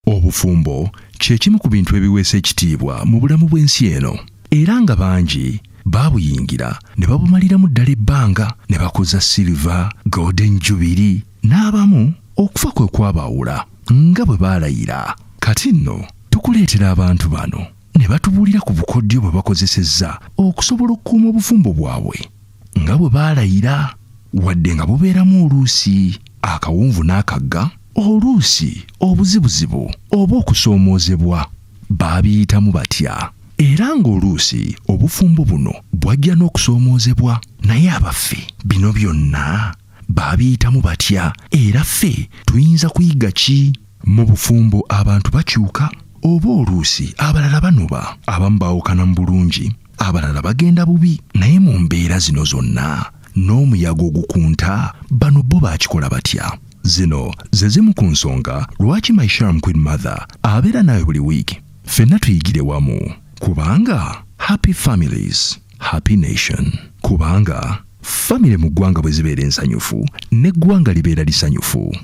obufumbo kye kimu ku bintu ebiweesa ekitiibwa mu bulamu bw'ensi eno era nga bangi baabuyingira ne babumaliramu ddala ebbanga ne bakoza silva golden jubiri n'abamu okufa kwe kwabaawula nga bwe baalayira kati nno tukuleetera abantu bano ne batubuulira ku bukodyo bwe bakozesezza okusobola okukuuma obufumbo bwabwe nga bwe baalayira wadde nga bubeeramu oluusi akawunvu n'akagga oluusi obuzibuzibu oba okusoomoozebwa baabiyitamu batya era ng'oluusi obufumbo buno bwajja n'okusoomoozebwa naye abaffe bino byonna baabiyitamu batya era ffe tuyinza kuyiga ki mu bufumbo abantu bakyuka oba oluusi abalala banoba abamu baawukana mu bulungi abalala bagenda bubi naye mu mbeera zino zonna n'omuyaga ogukunta bano bo bakikola batya zino ze zimu ku nsonga lwaki my sharm queen mother abeera naawe buli wiiki ffenna tuyigire wamu kubanga happy families happy nation kubanga famire mu ggwanga bwe zibeera ensanyufu n'eggwanga libeera lisanyufu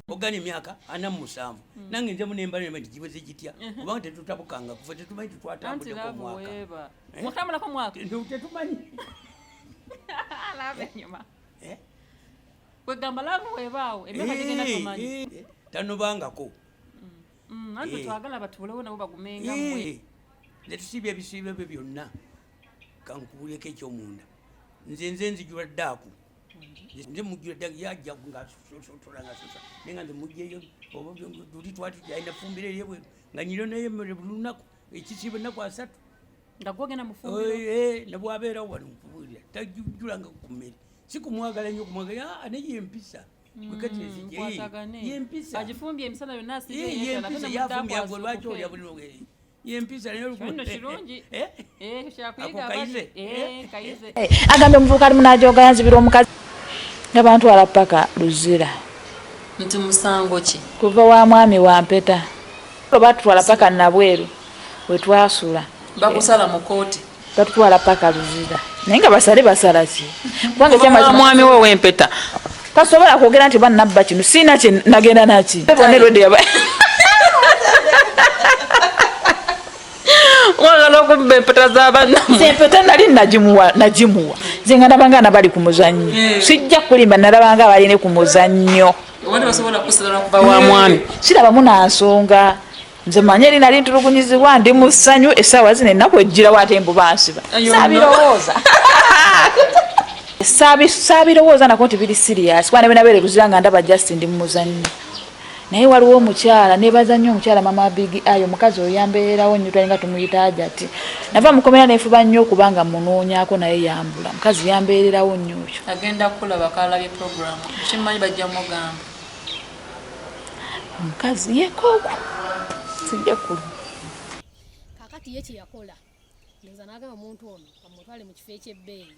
ogana emyaka ana mu musanvu hmm. nange nzemu nembalema nti gibuze gitya uh-huh. kubanga tetutabukanga kufe tetumanyi tetwatambuleko mwaka eh? tetumanyi eh? kwegamba lavu webaawo emyaka eh, gigenda tumanyi tanobangako mm, anti twagala batubulewo nabo bagumenga mwe netusiibya ebisiibo ebyo byonna kankubuleko ekyomunda nze nze nzijula ddaaku nze mujjira dda yajja nga sosotola nga sosa naye nga nze mujjeyo tuli twati alina fumbira eri ebweru nga nyiro naye mere buli lunaku ekisiiba ennaku asatu nga gwogenda mufumbiro eh, eh, nabwabeerawo wali mukubuulira tajjulanga ku mmere si kumwagala nnyo kumwagala ah, naye yempisa yempisa agifumbye emisana yonna asiiyeempisa yafumbye agwe lwaki olya buli nogeri yempisa naye olukundo eh, kirungi eh, eh, kyakuyiga abali kayize agambye omuvubuka ali munaajoga yanzibira omukazi nga bantwala paka luzira nti musango ki kuva wa mwami wa mpeta batutwala paka nabweru wetwasula bakusala mu kooti tatutwala paka luzira naye nga basale basala ki kubanga kyama mwami we wempeta tasobola kwogera nti banabba kino siina kye nagenda naki wagala okubba empeta zabannaempeta nali nagimuwa nagimuwa nze nga nabanga nabali ku muzannyo eh. sijja kulimba nalabanga abaline ku muzannyo sirabamu nansonga nze manyi eri nali ntulugunyizibwa ndi mu ssanyu essaawa zino ennaku ejjirawo ate mbu bansiba sabirowooza sabirowooza nako nti biri siriyasi kuba nebenabeere luzira nga ndaba just ndi mumuzannyo naye waliwo omukyala nebaza nnyo omukyala mama bigi ayo omukazi oyo yambeerawo nnyo twalinga tumuyita ajati nava mukomera nefuba nnyo okuba nga munoonyako naye yambula omukazi yambeererawo nnyo oyo agenda kulaba kalabye programu kimanyi bajja mugamba omukazi yekoko sijja kulu kakati ye kyeyakola ndowooza nagamba omuntu ono amutwale mu kifo ekyebbeeyi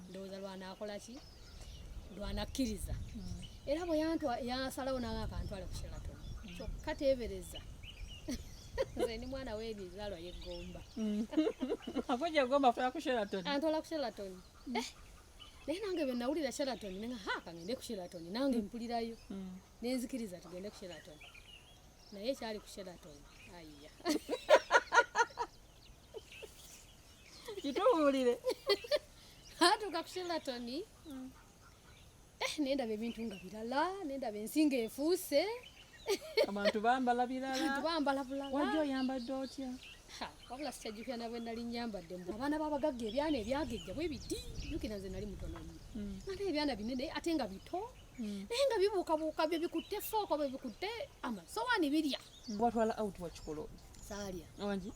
ndowooza lwanaakola ki lwanakkiriza mm. era bwe yasalawo nanga akantwale ku sheraton mm. kyokka teebereza nze ndi mwana w'ebizalwa yeggomba mm. akujja gomba fula ku sheraton antwala ku sheraton eh, naye nange bwe nawulira sheraton nenga ha kangende ku sheraton nange mpulirayo mm. nenzikiriza tugende ku sheraton naye ekyali ku sheraton ayiya kituwulire atuuka ku sheraton mm. eh, nendaba ebintu nga birala nendaba ensi nga efuuse abantu bambala biralabambala bulawajja oyambadde otya wabula sikyajjukira nabwe nali nyambadde mbu abaana babagagga ebyana ebyagejja bwe biti jukira nze nali mutono nyo mm. ate ebyana binene ate nga bito mm. naye nga bibuukabuuka bye bikutte fooko bye bikutte amasowaani birya mm. watwala out wakikola saalya wangi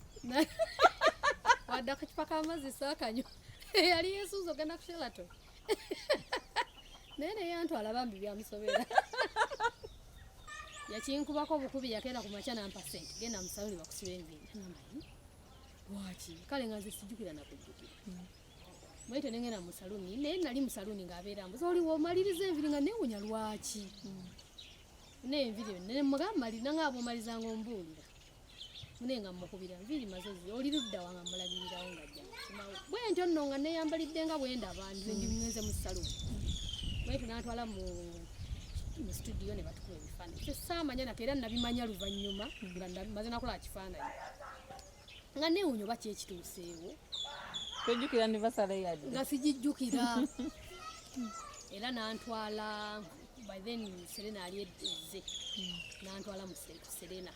wadde akacupa k'amazzi saakanyo yali yesuuza ogenda kushelato naye naye antwala bambi byamusobera yakinkubako obukubi yakeera ku makya nampa sente genda musaluni bakusiba enviiri namayi lwaki kale nga nze sijjukira nakujjukira bwetyo nengenda mu saluni naye nali mu saluni ng'abeera mbuza oli womaliriza enviri nga newunya lwaki naye enviri yo nemugamba mali nange abomaliza nga ombuulira mune nga mukubira nviiri mazozi oli ludda wanga mulagirirawo nga jjamawo bwe ntyo nno nga neyambalidde nga bwe ndaba nze ndi mwenze mu saluni bwetu natwala mu mu situdiyo ne batukuba ebifaananyi kyo saamanya nate era nabimanya luvannyuma nga maze nakola kifaananyi nga neewunya oba kyekituuseewo tojjukira ne basala yadde nga sigijjukira era nantwala by then serena ali ezze nantwala mu serena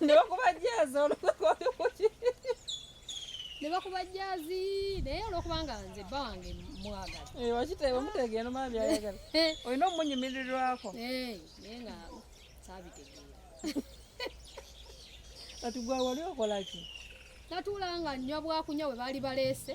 nebakuba jazi nebakuba jazi naye olwokubanga nze bba wange mwagala eh, wakitebe mutegee nomaa byayagala eh. olina omunyumirirwako eh, naye nga sabitegeera kati gwa wali okolaki natuulanga nnywa bwakunywa bwe baali baleese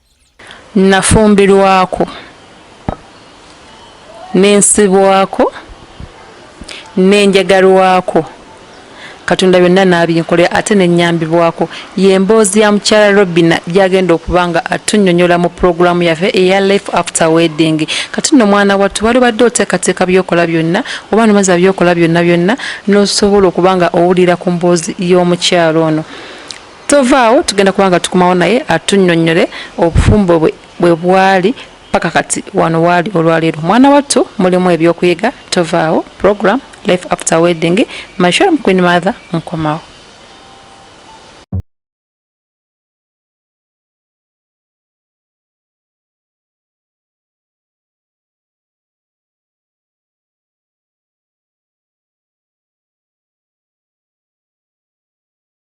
Nafumbirwako ne nsibwako ne njagalwako Katonda byonna n'abinkolera ate ne nnyambibwako y'emboozi ya mukyala Robina gy'agenda okuba nga atunnyonnyola mu pulogulaamu yaffe eya Life After Wedding. Kati nno mwana wattu wali obadde oteekateeka by'okola byonna oba nomaza by'okola byonna byonna n'osobola okuba nga owulira ku mboozi y'omukyala ono. Tovaawo tugenda kuba nga tukomawo naye atunyonyole obufumbo bwe bwe bwali paka kati wano waali olwaleero mwana wattu mulimu ebyokuyiga tovaawo program life after wedding my sure queen mother nkomawo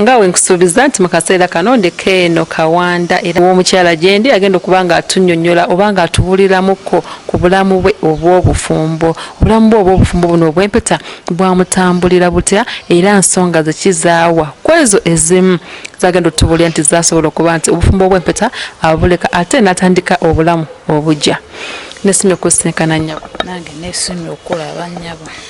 nga wenkusuubiza nti mu kaseera kano ndeka eno kawanda era omukyala gyendi agenda okuba nga atunyonyola oba nga atubuliramukko ku bulamu bwe obw'obufumbo obulamu bwe obw'obufumbo buno obw'empeta bwamutambulira butya era nsonga zekizaawa kwezo ezimu zagenda otubulira nti zasobola okuba nti obufumbo obw'empeta abuleka ate natandika obulamu obugya nesimye okusinkana nyabo nange nesimye okulaba nyabo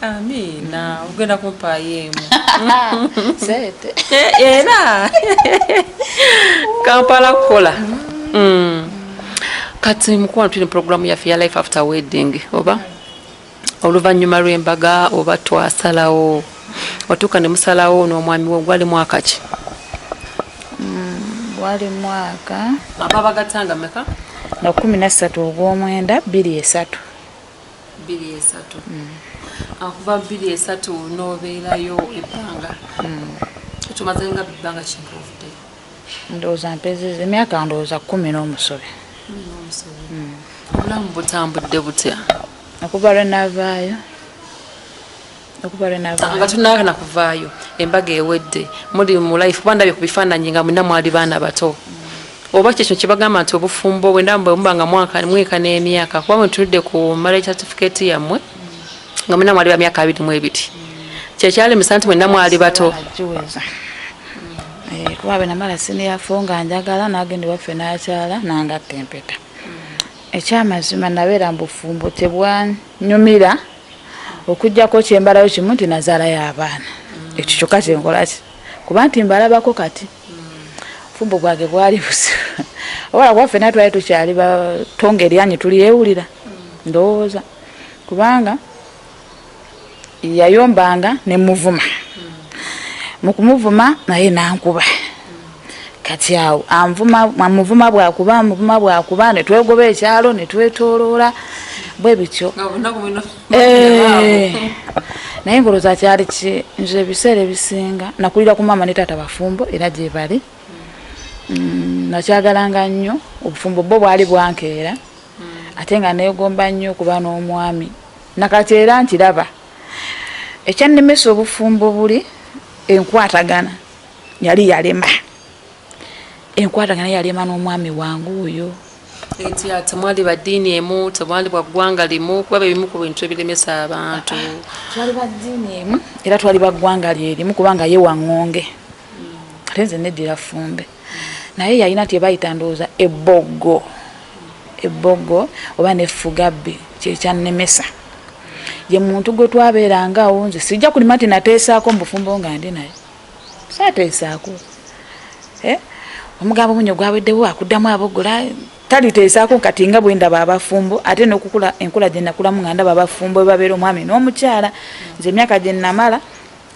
amiina ogenda kumpaayo emu sente eh, era kampala kukola mm. kati mukwano tuli programu yaffe ya life after wedding oba oluvannyuma lw'embaga oba twasalawo otuuka ne musalawo n'omwami wo gwali mwaka ki mm, gwali mwaka ababagatanga meka na kumi nassatu ogw'omwenda bbiri esatu bbiri esatu akuva mm. bbiri esatu nobeerayo ebbanga mm. tumaze nga bibbanga kinkuvude ndowooza mpezeza emyaka ndowooza kumi n'omusobe mm. obulamu butambudde butya okuva lwe navaayo nga tunakana kuvaayo embaga ewedde muli mu life kuba ndabye ku bifaananyi nga mwina mwali baana bato oba kyekyo kyebagamba nti obufumbo bwendamuba nga mweka n'emyaka kuba mwetunudde ku marriage certificate yammwe nga mwina mwali ba myaka abiri mu ebiri kyekyalemesa nti mwena mwali bato eh, kuba bwenamala siniyafo nga njagala nagenda waffe nakyala nangatta empeta ekyamazima nabeera mu bufumbo tebwanyumira okujjako kyembalayo kimu nti nazaalayo abaana mm. ekyo kyokka kyenkolaki kuba nti mbalabako kati fumbo bwange bwali buzibu obala kuba fena twali tukyali batonga eryanyi tulyewulira ndowooza kubanga yayombanga nemuvuma mukumuvuma naye nankuba kati awo anvuma amuvuma bwakuba amuvuma bwakuba ne twegoba ekyalo ne twetooloola bwe bityo eh. naye ngoloza kyali ki nze ebiseera ebisinga nakulira ku maama ne taata bafumbo era gye bali mm, nakyagalanga nnyo obufumbo bwo bwali bwankeera mm. ate nga neegomba nnyo okuba n'omwami nakati era nkiraba ekyannemesa obufumbo buli enkwatagana yali yalema enkwatagana yalema n'omwami wange oyo eti temwali ba ddiini emu temwali bwa ggwanga limu kuba bye bimu ku bintu ebiremesa abantu twali ba ddiini emu era twali ba ggwanga lyerimu kubanga ye waŋŋonge ate nze neddira fumbe naye yalina nti ebayita ndowooza eboggo eboggo oba nefugabbi kyekyannemesa ye muntu gwe twabeerangaawo nze sijja kulima nti nateesaako mu bufumbo nga ndi naye sateesaako eh? omugambo omunyo gwaweddewo akuddamu abogola taliteesaako kati nga bwe ndaba abafumbo ate nokukula enkula gye nakulamu nga ndaba abafumbo ebabeera omwami n'omukyala nze emyaka gye namala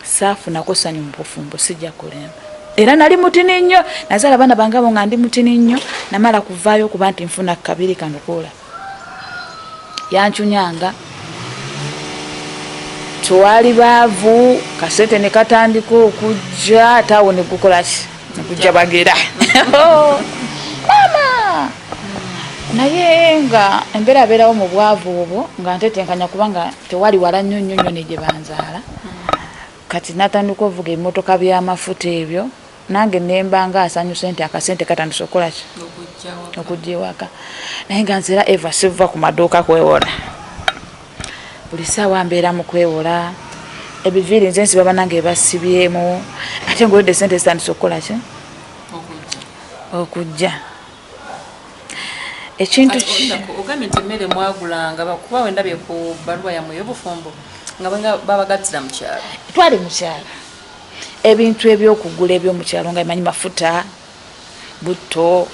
saafunako sanyu mu bufumbo sijja kulemba era nali mutini nnyo nazaala abaana bange abo nga ndi mutini nnyo namala kuvaayo okuba nti nfuna kabiri kano koola yancunyanga twali baavu kasente ne katandika okujja ate awo ne gukolaki nekujja bagera oh, maama naye nga embeera abeerawo mu bwavu obwo nga ntetenkanya kubanga tewali wala nnyo nnyo nnyo ne gye banzaala kati natandika ovuga ebimotoka by'amafuta ebyo nange nemba nga asanyuse nti akasente katandise okukolaki okujja ewaka naye nga nzera eva siva ku maduuka kwewola buli saawa mbeera mu kwewola ebiviiri nze nsiba banange ebasibyemu ate ngaoyodde sente zitandise okukolaki okujja ekintu ogambye nti emmere mwagulanga kuba wendabye ku baluwa yamwe eyobufumbo nga babagattira mukyalo twali mukyalo ebintu ebyokugula ebyomukyalo nga emanyi mafuta butto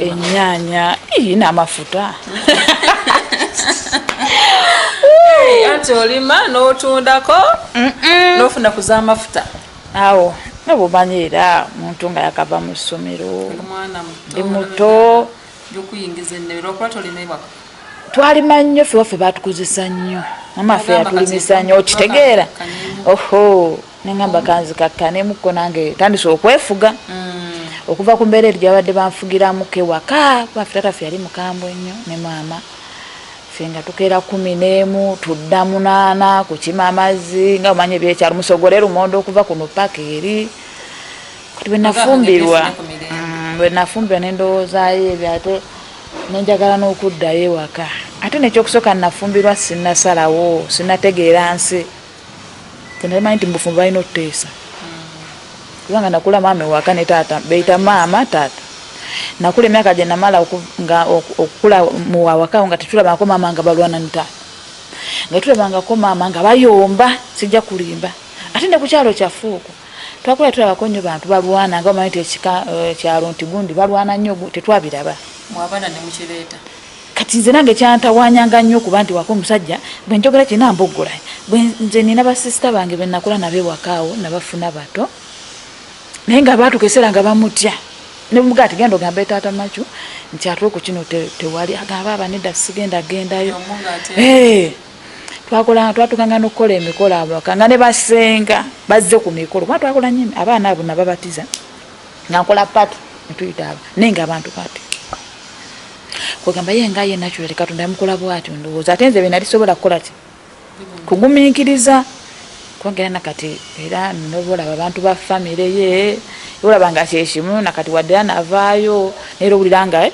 enyanya iyi namafuta anti olima notundako nofuna kuzamafuta awo nobumanyi era muntu nga yakava mu ssomero ndi muto byokuyingiza ennebe lwakuba tolimebwako twalima nnyo fe waffe batukozesa nnyo mama fe yatulimisa nnyo okitegeera oho nengamba kanzi kakkanemuko nange tandise okwefuga mm. okuva ku mbeera eri gyabadde banfugiramu kewaka bafe tata fe yali mukambwe nnyo ne maama fe nga tukeera kumi n'emu tudda munaana kukima amazzi nga omanya ebyekyalo musogole lumonde okuva kuno paka eri kati bwenafumbirwa mm, bwenafumbirwa nendowoozayo ebyo ate nenjagala n'okuddayo ewaka ate nekyokusooka nafumbirwa sinasalawo sinategeera nsi tenamanyi nti mubufumbo balina okuteesa kubanga nakula maama ewaka ne taata beyita maama taata nakula emyaka gyenamala nga okukula muwawaka nga tetulabangako maama nga balwana ne taata nga tulabangako maama nga bayomba sijja kulimba ate ne ku kyalo kyaffe okwo twakula tulabako nnyo bantu balwana nga omanyi nti ekika eh, kyalo nti gundi balwana nnyo tetwabiraba mwabana ne mukireeta kati nze nange kyantawanyanga nnyo okuba nti wako omusajja bwe njogera kirina mboggola nze nina basisita bange be nakula nabo ewakaawo nabafuna bato naye nga baatuka eseera nga bamutya nemugaa ti genda ogamba etaata macu nti atula oku kino tewali agamba abaneda sigenda gendayo twakolanga twatukanga n'okukola emikolo awaka nga ne basenga bazze ku mikolo kuba twakola nyo abaana abo nababatiza nga nkola pati netuyita abo naye nga abantu pati kwegamba ye nga ye natural katonda yamukola bwatyo ndowooza ate nze benali sobola kukola ki kugumiikiriza kwongera nakati era nobolaba abantu ba famire ye olaba nga kyekimu nakati waddera navaayo naye era owulira nga eh,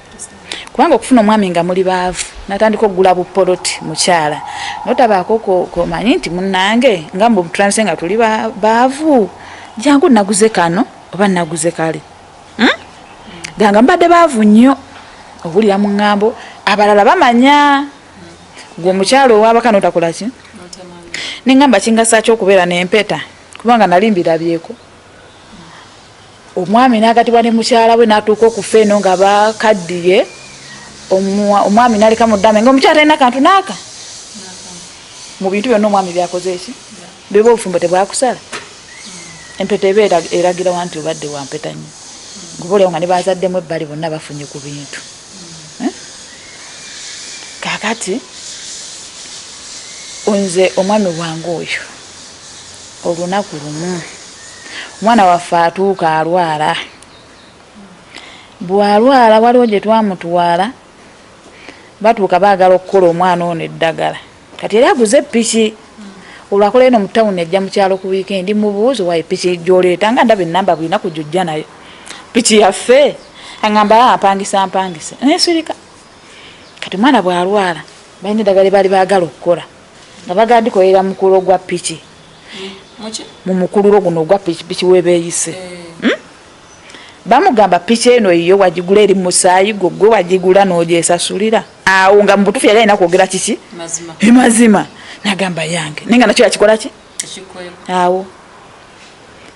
kubanga okufuna omwami nga muli baavu natandika okugula bupoloti mukyala notabaako komanyi nti munange nga mbutulanise nga tuli baavu jangu naguze kano oba naguze kale hmm? ganga mbadde baavu nnyo owulira mu ŋŋambo abalala bamanya gwe omukyalo owabaka notakola ki neŋŋamba kingasaaki okubeera nempeta kubanga nali mbirabyeko omwami n'agatibwa ne mukyala we n'atuuka okufa eno nga bakaddiye omwami n'aleka mu ddame nga omukyala talina kantu n'aka mu bintu byonna omwami byakoze eki byoba obufumbo tebwakusala empeta eba eragirawa nti obadde wampeta nnyo kuba olyawo nga ne bazaddemu ebbali bonna bafunye ku bintu eh? kakati nze omwami wange oyo olunaku lumu omwana waffe atuuka alwala bwalwala waliwo gye twamutwala batuuka baagala okukola omwana ono eddagala kati era aguze piki olwakola eno mu tawuni ajja mu kyalo ku wiikendi mubuuzi wayo piki gyoleeta nga ndaba enamba bwina ku gyojja nayo piki yaffe aŋamba ah, apangisa mpangise nesirika kati omwana bwalwala balina eddagala ebaali baagala okukola nga bagala dikolela mukululo gwa piki mu mukululo guno ogwa pikipiki webeyise hmm? bamugamba piki eno yiyo wagigula eri musaayi gwo gwe wagigula nojesasulira awo nga mubutufu yali alina kwogera kiki emazima nagamba yange naye nga nakyo yakikola ki awo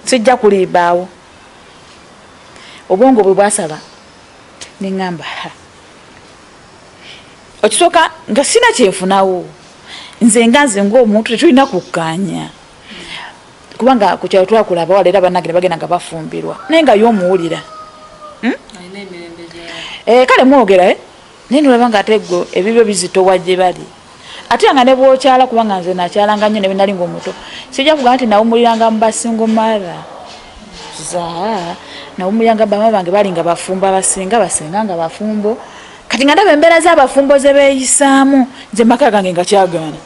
sijja kulimba awo obwongo bwe bwasaba neŋamba ha okisooka nga sina kyenfunawo nze nga nze ngaomuntu tetulina kukkaanya kubanga ku kyalo twakula abawala era banange ne bagenda nga bafumbirwa naye nga yo omuwulira hmm? eh, kale mwogera eh? naye nolaba nga ate gwe ebibyo bizitowa gye bali ate nga ne bwokyala kubanga nze nakyalanga nnyo nebinali nga omuto sijja kugamba nti nawumuliranga mu basingo mara za nawumuliranga bama bange bali nga bafumbo abasinga basinga nga bafumbo kati nga ndaba embeera z'abafumbo ze beeyisaamu nze maka gange nga kyagaana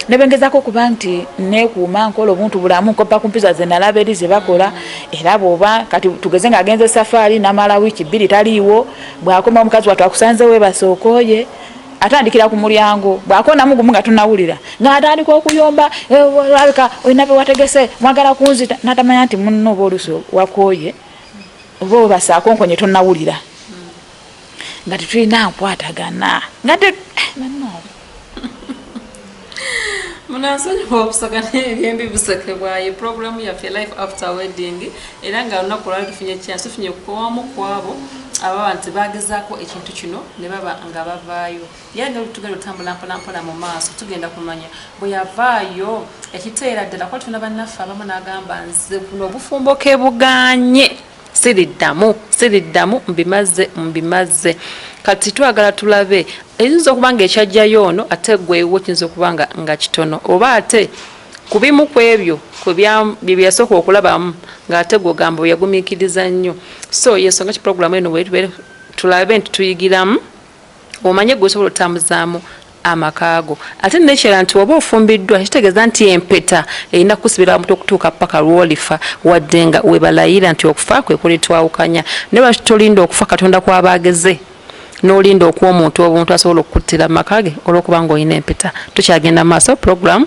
nebengezako okuba nti nekuuma nkola obuntu bulamu nkoppa ku mpiza ze nalaba eri ze bakola era bwoba kati tugeze nga agenze safaari namala wiiki bbiri taliiwo bwakoma omukazi watu akusanze webasookoye atandikira ku mulyango bwakonamu gumu nga tunawulira ngaatandika okuyomba eh, alabika olina bewategese mwagala kunzita natamanya nti munno oba olusi wakoye oba obasaakonkonye tonawulira nga tetulina nkwatagana nga eh, munansonyiwa obusoga nebyembi buseke bwaye puroguramu yaffe life after wedding era nga lunaku olwali tufunye kyansi tufunye kukowamu kwabo ababa nti bagezaako ekintu kino ne baba nga bavaayo yali nga tugenda otambula mpolampola mu maaso tugenda kumanya bwe yavaayo ekiteera ddala kuba tuna bannaffe abamu n'agamba nze buno obufumbo ke buganye siriddamu siriddamu mbimazze mbimazze kati twagala tulabe eyinza okuba nga ekyajjayo ono ate gwewo kiyinza okuba nga nga kitono oba ate ku bimu ku ebyo byeyasooka okulabamu ng'ate gwogamba weyagumikiriza nnyo so yensonga ki puroguramu eno wetube tulabe nti tuyigiramu omanye gwe osobola otambuzaamu amaka go ate nekirala nti waba ofumbiddwa kitegeeza nti empeta erina kusibira wamutu okutuuka paka lwolifa wadde nga webalayira nti okufa kwe kulitwawukanya naye lwaki tolinda okufa katonda kwaba ageze nolinda okuwa omuntu obuntu asobola okukuttira mu maka ge olwokuba nga olina empeta tukyagenda mu maaso puroguramu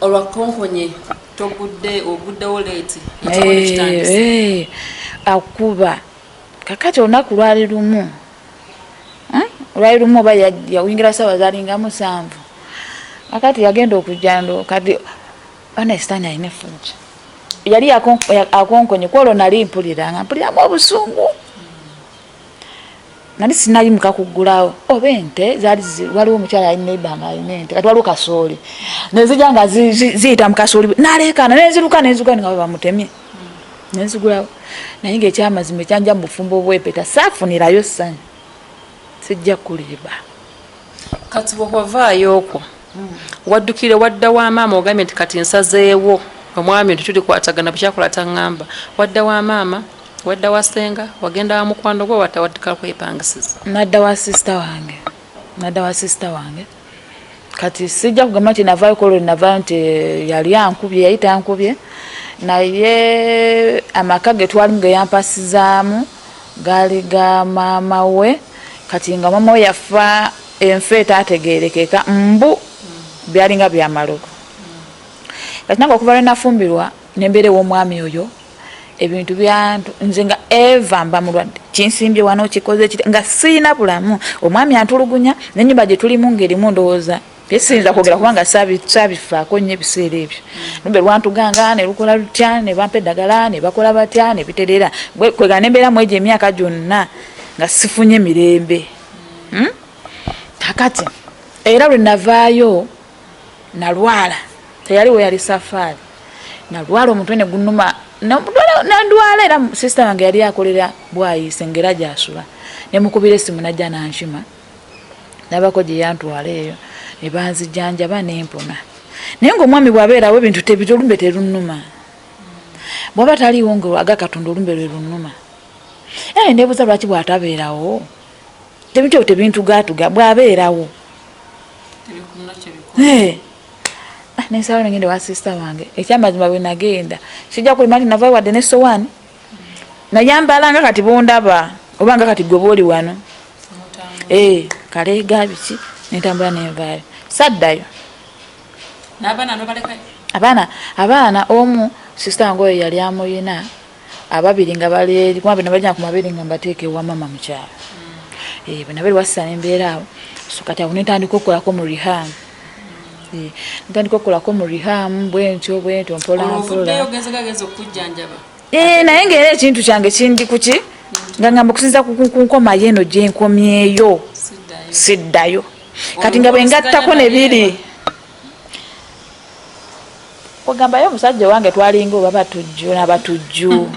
olwakonkonye togudde oguddewo leeti eh, akuba kakati olunaku lwali lumu hmm? lwali lumu oba yawingira saawa zalinga musanvu akati yagenda okujando kati onesitani alina efuja yali akonkonye kwolwo nali mpulira nga mpuliramu obusungu nali sinayimuka kugulawo oba ente zali waliwo omukyala yali neiba nga alina ente kati waliwo kasooli nezija nga ziyita mukasooli naleekaana neziruka nezuka nga bamutemye nenzigulawo naye nga ekyamazima ekyanja mu bufumbo obwepeta saafunirayo ssanyu sijja kuliba kati bwewavaayo okwo waddukire wadda wa maama ogambye nti kati nsazeewo omwami nti tulikwatagana bukyakola taŋŋamba wadda wa maama wadda wa senga wagenda wa mukwano gwe watawaddika kwepangisiza nadda wa sisita wange nadda wa sisita wange kati sijja kugamba nti navaayo kolwe navaayo nti eh, yali ankubye yayita ankubye naye amaka ge twalimu ge yampasizaamu Gaali ga maama we kati nga maama we yafa enfa etategerekeka mbu byalinga byamalogo kati nange okuva lwenafumbirwa nembeera ewomwami oyo ebintu byantu nze nga eva mba mulwadde kinsimbye wano kikoze nga siyina bulamu omwami antulugunya nenyumba gyetulimu ngaerimu ndowooza Siyinza kwogera kubanga saabifaako nnyo ebiseera ebyo lumbe lwantuganga ne lukola lutya ne bampa eddagala ne bakola batya ne biterera kwegana nembeera mu egyo emyaka gyonna nga sifunye mirembe hmm? kakati era lwe navaayo nalwala teyali we yali safaari nalwala omutwe ne gunuma nandwala era sisita wange yali akolera bwayise ngaera gyasula ne mukubira esimu najja nankima nabako gye yantwala eyo ne banzijanjaba ne mpona naye ng'omwami bw'abeerawo ebintu tebiri olumbe terunnuma bw'aba taliiwo nga aga katonda olumbe lwe lunnuma era nebuuza lwaki bw'atabeerawo tebintu ebyo tebintugaatuga bw'abeerawo nensalawo nengenda wa sisita wange ekyamazima bwe nagenda sijja kulima nti navayo wadde ne sowaani nayambala nga kati bondaba oba nga kati gwe booli wano eh, kaleega biki nentambula nenvaayo saddayo abaana abaana omu sisita nga oyo yali amuyina ababiri nga balikumabenabaja kumabiri nga mbateeka ewamama mukyalo mm. eh, bwenabeeri wasisa nembeera awo so kati awo nentandika okukolako mu reham ntandika okukolako mu rihamu bwentyo bwentyo mpolampolaogezegageeza okujjanjaba eh, naye ngaera ekintu kyange kindi kuki nga ngamba okusinza kunkomayo eno gyenkomyeyo siddayo kati nga bwengattako nebiri Kwegamba yo musajja owange twalinga oba batujju na batujju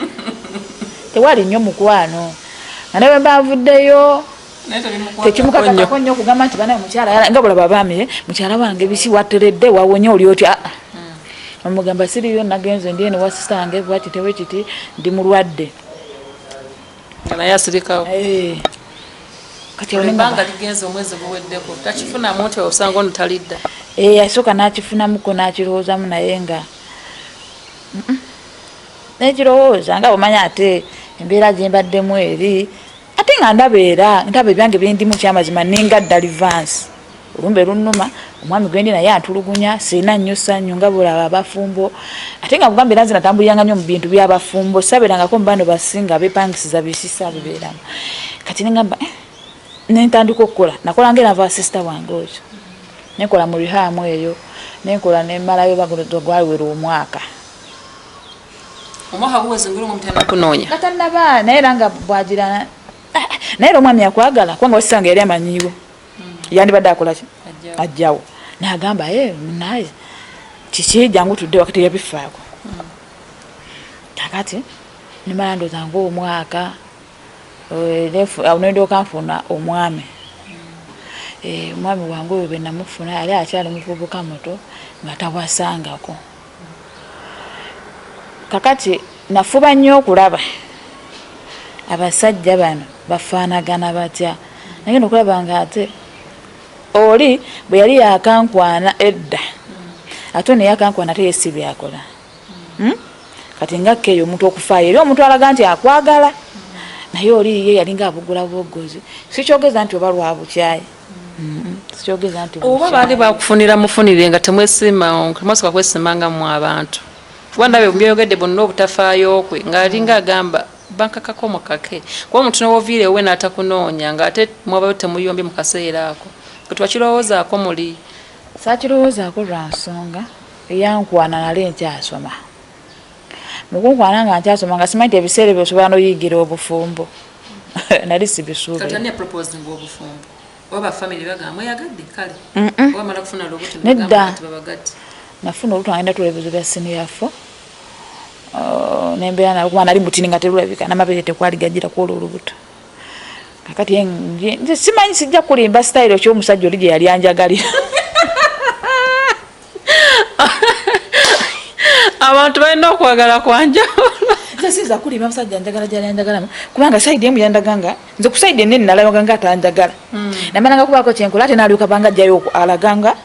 tewali nnyo mukwano nga ne bwe mba nvuddeyo tekimukakatako nnyo okugamba nti bana mukyala yala nga bulaba baami eh, mukyala wange biki wateredde wawonye oli otya ah, ah. hmm. omugamba siriyo nagenze ndi eno wasisange bwaki tewe kiti ndi mulwadde nga naye asirikawo eh. kati olembanga ligenze omwezi guweddeko takifunamu nti osanga ono talidda eh, yasooka n'akifunamuko n'akirowoozamu naye nga naye kirowooza nga bwemanya ate embeera gye mbaddemu eri ate nga ndabeera ndaba ebyange byendimu kyamazima ninga dalivansi olumbe lunnuma omwami gwendi naye atulugunya sirina nnyo sannyu nga bulaba abafumbo ate nga kugamba era nze natambuliranga nnyo mu bintu byabafumbo sabeerangako mu bano basinga bepangisiza bisisa bibeeramu kati nengamba eh, nentandika okukola nakola nga erava sisita wange oyo nenkola mu rihamu eyo nenkola nemalayo bagwaliwera omwaka omwaka guweze ngeri omutana kunoonya natanaba naye era nga bwagira eh, eh, naye era omwami akwagala kubanga wasisanga yali amanyiwo yandibadde akolaki ajjawo nagamba e munaye kiki jangu tudde wakati yabifaako kakati nimala ndoza ngaomwaka nendooka nfuna omwami omwami wange oyo benamufuna yali akyali muvubuka muto nga tawasangako Kakati nafuba nnyo okulaba abasajja bano bafaanagana batya. Nagenda okulaba nga ate oli bwe yali yakankwana edda ate ono yakankwana ate yesi byakola hmm? kati nga keyo omuntu okufaayo eri omuntu alaga nti akwagala naye oli ye yalinga abugula bwogozi sikyogeza nti oba lwabukyayi oba baali bakufunira mufunire nga temwesimatemwasooka kwesimanga mu abantu kuba ndabe byoyogedde bonna obutafaayo kwe ng'alinga agamba bankakako mukake kuba omuntu nowoviire ewe n'atakunoonya ng'ate mwabayo temuyombye mu kaseera ako ketwakirowoozaako muli saakirowoozaako lwa nsonga eyankwana nali nkyasoma mukunkwana nga nkyasoma nga simanyi ti ebiseera ebyo osobola noyigira obufumbo nali sibisuubinedda nafuna olutu agenda tula ebibuzo bya siniyafo uh, nembeera nakuba nali mutini nga terulabika namabere tekwali gajira kwolwo olubuto kakati simanyi sijja kulimba sitayiro kyomusajja oli gyeyali anjagalira abantu balina okwagala kwanjawulo nzesiza kulima musajja njagala gyali anjagalamu kubanga saidi emu yandaga nga nze ku saidi enene nalabaga nga atanjagala hmm. namananga kubaako kyenkola ate nalyoka banga ajjayo alaganga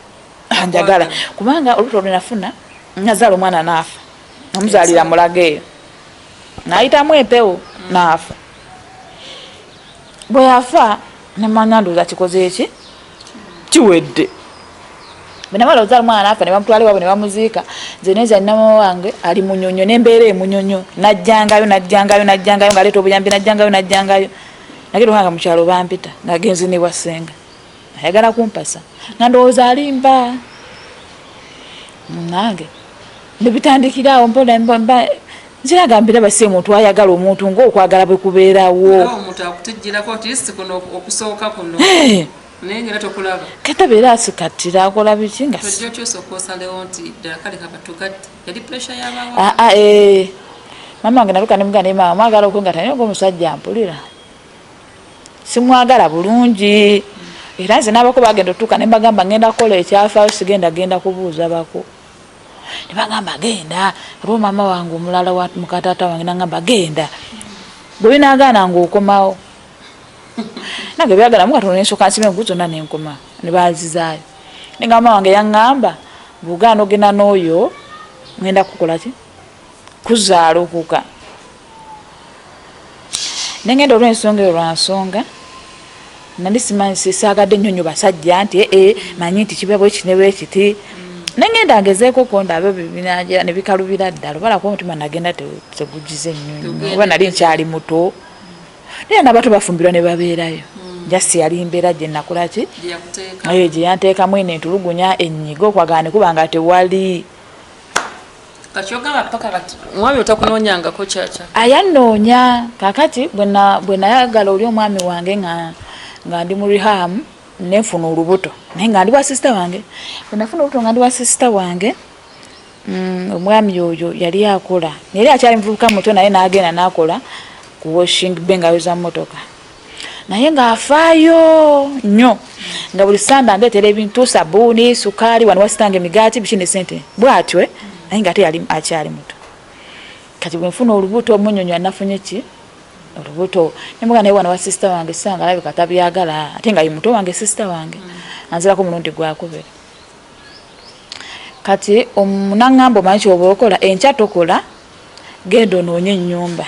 anjagala kubanga olubuto olwenafuna nazaala omwana naafa omuzaalira mulaga eyo nayitamu empewo hmm. naafa bwe yafa ne manya ndoza kikoze eki kiwedde bwenamala ozala omwana nafa ne bamutwala ewabwe ne bamuziika nze neza nnama wange ali munyonyo n'embeera emunyonyo najjangayo najjangayo najjangayo ng'aleeta obuyambi najjangayo najjangayo nage lwanga mu kyalo bampita ng'agenzi ne bwa ssenga ayagala kumpasa nga ndowooza alimba nange nebitandikira awo mpola nziraga mbiraba si omuntu ayagala omuntu ngaokwagala bwe kubeerawo kata beera asikattira akola biki nga ah, ah, eh. mama wange naluka nemuga naye mama mwagala okwengata naye nga omusajja mpulira simwagala bulungi era nze nabako bagenda otuuka nembagamba ngenda kukola ekyafaayo sigenda genda kubuuza bako ne bagamba genda lwo maama wange omulala wa mukataata wange nangamba genda gwe binagaana ngaokomawo nange byagala mukatono nensoka nsiba enku zonna nenkoma ne banzizaayo naye nga maama wange yaŋŋamba bwogaana ogenda n'oyo ŋenda kukolaki kuzaala okuka nengenda olwensonga eyo lwansonga nali simanyi sisaagadde nnyo nyo basajja nti ee eh, manyi nti kiba bwekinebwekiti nengenda ngezeeko konda abyo bibinajera nebikalubira ddala obala kuba omutima nagenda tegugize nnyonyo oba nali nkyali muto naye nabato bafumbirwa ne babeerayo hmm. jasi yali mbeera gye nakulaki gye yanteekamu eno entulugunya ennyiga okwagala ne kuba nga tewali ayanoonya kakati bwenayagala oli omwami wange nga ndi mu reham nenfuna olubuto naye nga ndi wa sisita wange bwenafuna olubuto nga ndi wa sisita wange mm, omwami oyo yali akola naye akyali muvubuka muto naye nagenda nakola ku washing be ngayoza motoka naye ng'afaayo nnyo nga buli sande andeetera ebintu sabuuni sukaali wano wasitanga emigaati biki ne sente bwatyo eh? naye nga ate yali akyali muto kati bwenfuna olubuto omunyonyo anafunye ki olubuto nemuga naye wana wa sisita wange sanga alabika tabyagala ate nga ye muto wange sisita wange anzirako omulundi gwakubiri kati omunangamba omanyi kyoba okola enkya tokola genda onoonye enyumba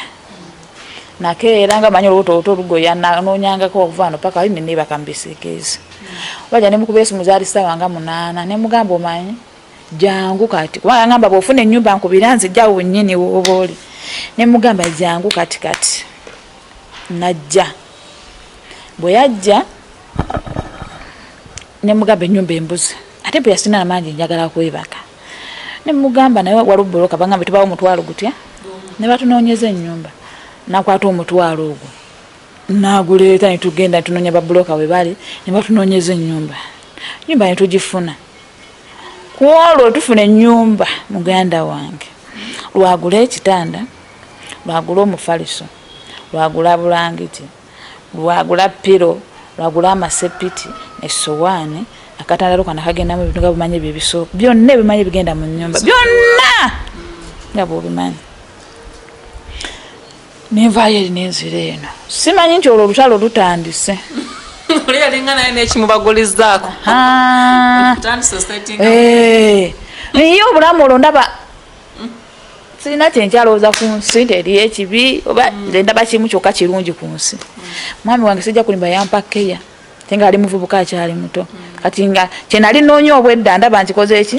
nake era nga manyi olubuto oluto olugoya nanoonyangako okuva no paka imi nebaka mubisiikiizi waja nemukuba esimu zaali sawa nga munaana nemugamba omanyi jangu kati kuba angamba bwofuna enyumba nkubira nzija wenyini woba oli nemugamba jangu kati kati najja bwe yajja nemugamba enyumba embuzi ate bweyasina amangi njagala kwebaka nemugamba naye waliwo buloka bagambe tubawo omutwalo gutya nebatunonyeza enyumba nakwata omutwalo ogwo naguleeta netugenda tunonya babuloka webali nebatunonyeza enyumba nyumba netugifuna kwolwo tufuna enyumba muganda wange lwagula ekitanda lwagula omufaliso lwagula bulangiti lwagula pilo lwagula amasepiti esowaani akatandalo kana kagendamu ebintu nga bumanyi ebyo ebisooka byonna ebimanyi ebigenda mu nyumba byonna nga bwobimanyi nenvaayo eri nenzira eno simanyi nti olwo olutalo lutandise oli yalinga naye nekimubagulizaako naye obulamu olwo ndaba sirina kyenkyalowooza ku nsi nti eriyo ekibi oba mm. nze ndaba kimu kyokka kirungi ku nsi mwami wange sijja kulimba yampa keya te nga ali muvubuka akyali muto mm. kati nga kyenali noonya obwedda ndaba nkikoze eki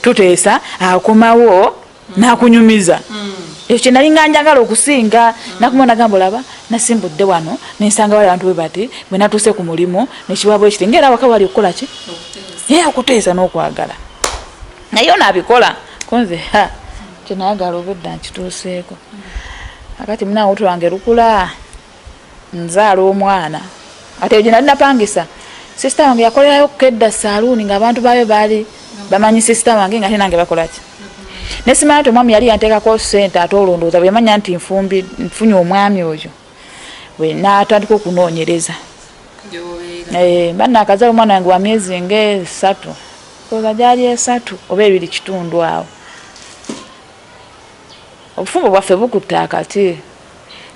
tuteesa akomawo mm. nakunyumiza ekyo kyenali nga njagala okusinga nakuma nagamba olaba nasimbudde wano nensanga wali abantu bwe bati bwe natuuse ku mulimu nekiwabwekiti ngaera waka wali okukola ki ye okuteesa n'okwagala naye ono abikola kunze kyenayagala obudda nkituuseeko akati muna wutu lwange lukula nzaala omwana ate egyo nali napangisa sisita wange yakolerayo kukedda saluuni ngaabantu baayo baali bamanyi sisita wange nga tenange bakolaki nesimanya nti omwami yali yanteekako sente ate olondooza bweyamanya nti nfumbi nfunye omwami oyo natandika okunoonyereza eh, mba nakazala omwana wange wa myezi ngaesatu oza gyali esatu oba ebiri kitundu awo obufumbo bwaffe bukutte akati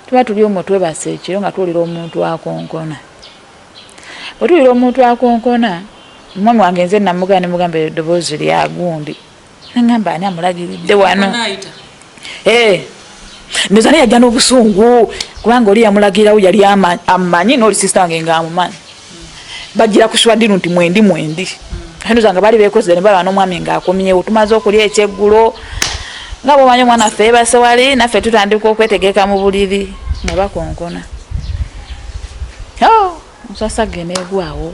tuba tuli omwo twebasa ekiro nga tuwulira omuntu akonkona bwe tuwulira omuntu akonkona omwami wange nze namugana nemugamba eddoboozi lyagundi nangamba ani amulagiridde wano eh, ndoza naye yajja n'obusungu kubanga oli yamulagirawo yali amanyi nooli sisita wange nga amumanyi bajjira ku swadiru nti mwendi mwendi ndoza nga baali bekozere nebaba n'omwami ngaakomyewo tumaze okulya ekyeggulo nga bwomanyi omwana ffe ebasewali naffe tutandika okwetegeka mu buliri nga bakonkona oh, musasage negwawo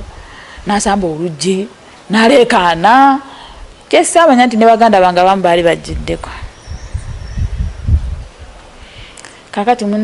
nasamba oluggi naleekaana kyesaamanya nti ne baganda bange abamu baali bajjiddeko kakati